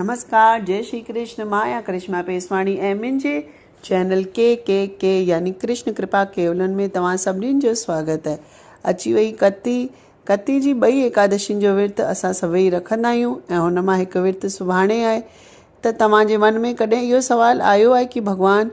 نمسڪار جئي شري ڪرشن مان آهيان ڪرشما پيسواڻي ۽ منهنجي چينل ڪي ڪي ڪي يعني ڪرشن ڪرپا ڪيولن ۾ توهان سڀني جو سواگت اهي اچي وئي ڪتي ڪتي جي ٻئي ايڪادشين جو ورت اسان سڀئي رکندا آهيون ۽ هن مان هڪ ورت سڀاڻي آهي ته توهان جي من ۾ ڪڏهن اهو سوال آيو آهي ڪي ڀڳوان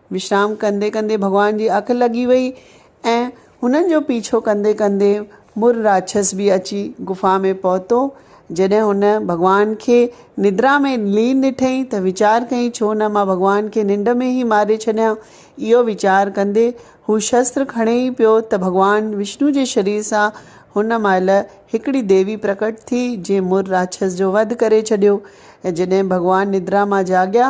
وشرام ڪندي ڪندي ڀڳوان جي اک لڳي وئي ۽ هنن جو پيڇو ڪندي ڪندي مور راڇس به اچي غفا ۾ پهتو. جڏهن هن ڀڳوان کي ندرا ۾ لين ڏٺئي ته ويچار ڪيئي ڇو نه مان ڀڳوان کي ننڊ ۾ ئي ماري ڇڏيان. اهو ويچار ڪندي هو شستر کڻي ئي پيو ته ڀڳوان وشنو جي شرير سان هن مهل هڪڙي ديوي پرڪٽ ٿي جنهن مور راڇس جو وڌ ڪري ڇڏيو ۽ جڏهن ڀڳوان ندرا مان جاڳيا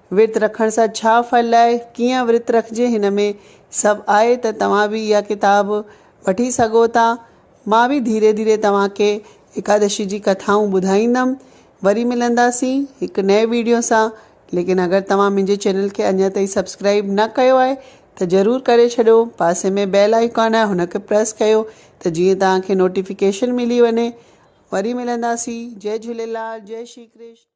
ورت رکڻ سان ڇا ڦل آهي، ڪيئن ورت رکجي هن ۾ سڀ آهي ته توهان به اها ڪتاب وٺي سگهو ٿا. مان به ڌيري ڌيري توهان کي ايڪادشي جي ڪٿائون ٻڌائيندم. وري ملنداسين هڪ نئين ويڊيو سان ليڪن اگر توهان منهنجي چينل کي اڃا تائين سبسڪرائيب نه ڪيو آهي ته ضرور ڪري ڇڏيو پاسي ۾ بيل آئيڪان آهي هن کي پريس ڪيو ته جيئن توهان کي نوٽيفڪيشن ملي وڃي وري ملنداسين جئي جهوليلال جئي شري ڪرشن.